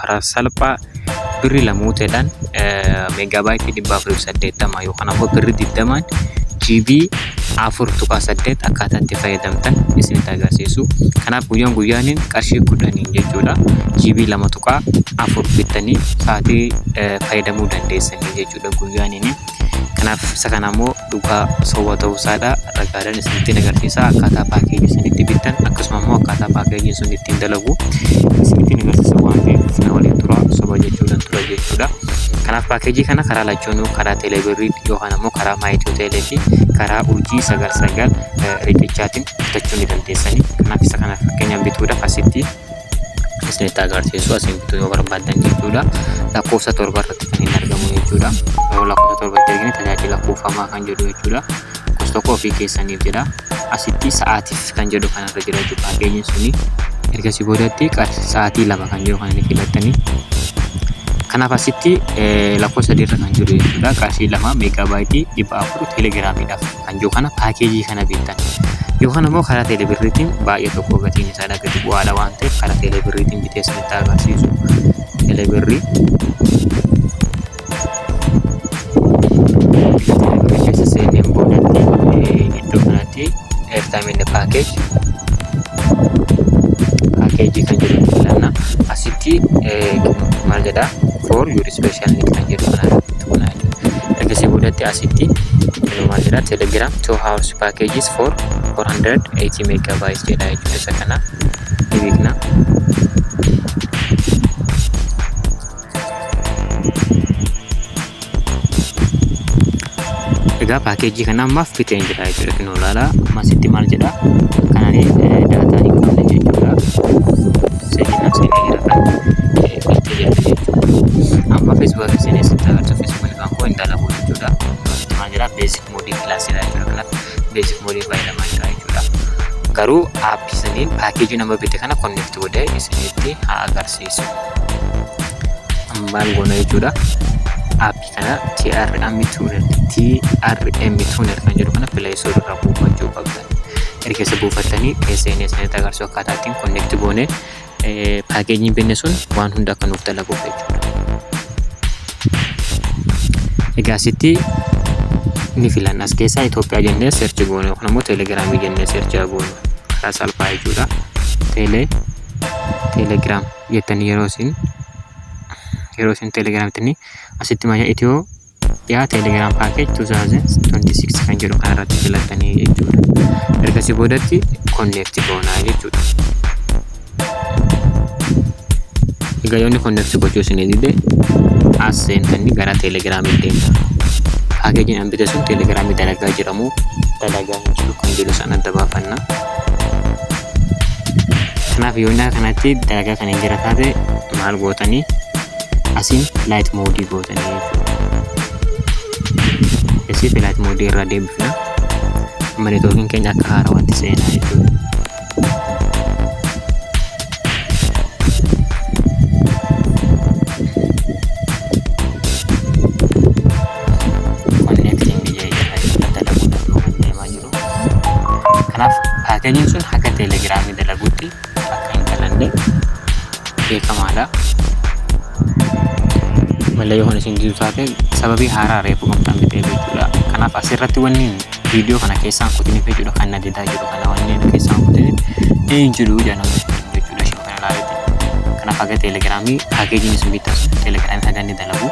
karaa salphaa birri lamuuteedhaan meegaabaayitii dhibba afurii fi saddeettama yookaan ammoo birri digdamaan GB afur tuqaa saddeet akkaataa itti fayyadamtan isinitti agarsiisu. Kanaaf guyyaan guyyaaniin qarshii kudhaniin jechuudha GB lama tuqaa afur bittanii sa'aatii fayyadamuu dandeessanii jechuudha guyyaaniin. Kanaaf isa kana ammoo dhugaa soba ta'uu isaadha ragaadhaan isinitti agarsiisa akkaataa paakeejii sun itti bittan akkasuma immoo akkaataa paakeejiin sun ittiin dalagu isinitti agarsiisa waan ta'eef na waliin tura soba jechuudhaan tura jechuudha. Kanaaf paakeejii kana karaa lachuunuu karaa teeleebirrii yookaan ammoo karaa maayituu teelee fi karaa urjii sagal sagal riqichaatiin bitachuu ni dandeessanii. Kanaaf isa kana fakkeenyaan bituudhaaf asitti isinitti agarsiisu asiin bituu yoo barbaaddan jechuudha. Lakkoofsa torba irratti kan hin argamu jechuudha. Yeroo lakkoofsa torba itti argine tajaajila kuufamaa kan jedhu jechuudha. Lakkoofsa tokko ofii keessaniif jedha. Asitti sa'aatiif kan jedhu kanarra jira jechuudha. Paakeejiin suni ergasii boodatti sa'aatii lama kan jedhu kan inni filattanii kanaaf asitti lakkoofsa sadiirra kan jiru jechuudha. Qarshii lama meegaabaayitii dhibba afur teelegiraamiidhaaf. Kanjoo kana paakeejii kana bittan. Yookaan ammoo karaa teelebirriitiin baay'ee tokko gatiin isaa dhagati bu'aadha waan ta'eef karaa teelebirriitiin bitee isinitti agarsiisu. Teelebirrii teelebirrii keessa seeneen boodatti iddoo kanatti eertaamiin paakeeji paakeejii kan jedhu filanna asitti maal jedhaa for your special need kan jedhu kana irratti tuqnaa jechuudha. Erga si boodatti asitti inumaa jira telegram 2 hours packages for 480 megabytes jedha jechuudha isa kana ni beekna. Egaa paakeejii kana ammaaf biteen jira jechuudha kun olaala amma asitti maal jedha kanaan daataan hin qabne jechuudha seenaa seenaa jira kan itti jira jechuudha amma feesbuuk akka seenaa isin tagarta feesbuuk kan kan koo hin dalagu jechuudha maal jedha beesik moodii kilaasii dha jechuudha kanaaf beesik moodii fayyadamaa jira jechuudha garuu aappii saniin paakeejii nama bite kana konneekti godhee isinitti haa agarsiisu maal goona jechuudha aappii kana TRM tuner TRM tuner kan jedhu kana play store irraa buufachuu qabdan erga isa buufattanii SNS ni agarsiisu akkaataa ittiin connect goone paakeejiin binne sun waan hunda akka nuuf dalaguuf jechuudha. Egaa asitti ni filan as keessaa Itoophiyaa jennee seerchi goone yookaan immoo teelegiraamii jennee seerchi goone karaa salphaa jechuudha. Teelee teelegiraam jettanii yeroo isin yeroo isin teelegiraamitti asitti maya itiyoo dhiyaa teeleegram paakeej 2026 kan jedhu kanarratti filattanii jechuudha ergasii boodatti konneekti goonaa jechuudha egaa yoonni konneekti gochuu isinii dide as seentanii gara teeleegiraamii deemta paakeejiin an bite sun teeleegiraamii dalagaa jedhamu dalagaa hin jiru kan jedhu san adda baafanna kanaaf yoonni kanatti dalagaa kan hin jira taate maal gootanii asiin light mode gootanii jechuudha. Asiif light mode irraa deebifna. Amma networkiin keenya akka haaraa wanti seenaa jechuudha. Kanaaf paakeejiin sun akka teelegiraamii dalaguutti akka hin dhalanne beekamaadha. Malee yoo isin jiru taate sababii haaraa reefu qabdan bitee jechuudha. Kanaaf asirratti wanni viidiyoo kana keessaan kutiniif jechuudha kan na dedaa jiru kana wanni keessaan kutiniif hin jiru jedhamu jechuudha isheen kana ilaalatti. Kanaaf haga teelegiraamii paakeejiin isin bittan teelegiraamii haga inni dalagu.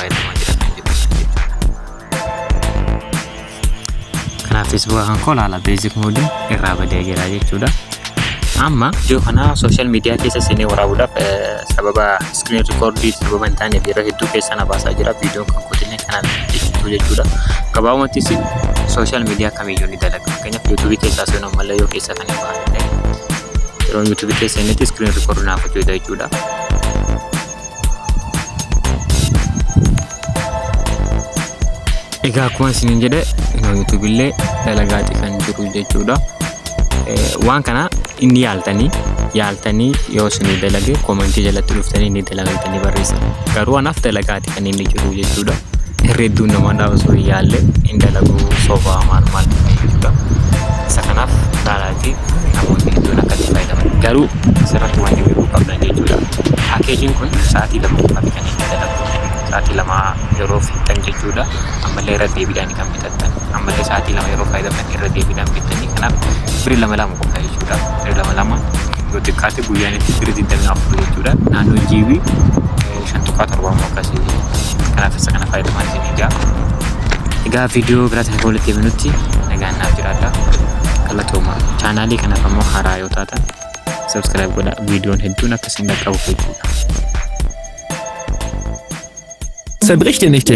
fayyadamaa jira kan jedhu jechuudha. Kanaaf feesbuuka kan koo laala beezik moodii irraa badee jira jechuudha. Amma ijoo kana sooshaal miidiyaa keessa seenee waraabuudhaaf sababa iskiriin rikoordii sababa hin taaneef yeroo hedduu keessa na baasaa jira. Viidiyoon kan kootillee kanaan ibsitu jechuudha. Gabaabumattis sooshaal miidiyaa kamiyyuu ni dalaga. Fakkeenyaaf yuutuubii keessaa seenuu ammallee yoo keessa kan hin baane ta'e yeroo yuutuubii keessa inni iskiriin rikoordii naaf hojjeta jechuudha. Egaa akkuma isiniin jedhe YouTube illee dalagaati kan jiru jechuudha. Waan kana inni yaaltanii yaaltanii yoo isinii dalage koomentii jalatti dhuftanii inni dalagaitanii barreessa. Garuu anaaf dalagaati kan inni jiru jechuudha. Irra hedduun namadhaa osoo hin yaalle hin dalagu sobaa maal maal jechuudha. Isa kanaaf fi namootni hedduun akka itti fayyadaman garuu asirratti wanti beekuu qabdan jechuudha. Paakeejiin kun sa'aatii lama qofaati kan inni dalagu. Sa'aatii lama yeroo fixxan jechuudha. Ammallee irra deebiidhaan kan bitattan. Ammallee sa'aatii lama yeroo fayyadamtan irra deebiidhaan bittanii kanaaf biri lama lama qofa jechuudha. Biri lama lama yoo xiqqaate guyyaan itti biri 24 jechuudha. Naannoo jiibii 5 tuqaa 7 immoo akkasii karaa keessa kana fayyadamaa isin egaa egaa viidiyoo biraatiin akka walitti deebinutti nagaan naaf jiraadha galatooma chaanaalii kanaaf ammoo haaraa yoo taatan subscribe godha viidiyoon hedduun akkasiin dhaqqabuuf jechuudha. Zerbrich dir nicht den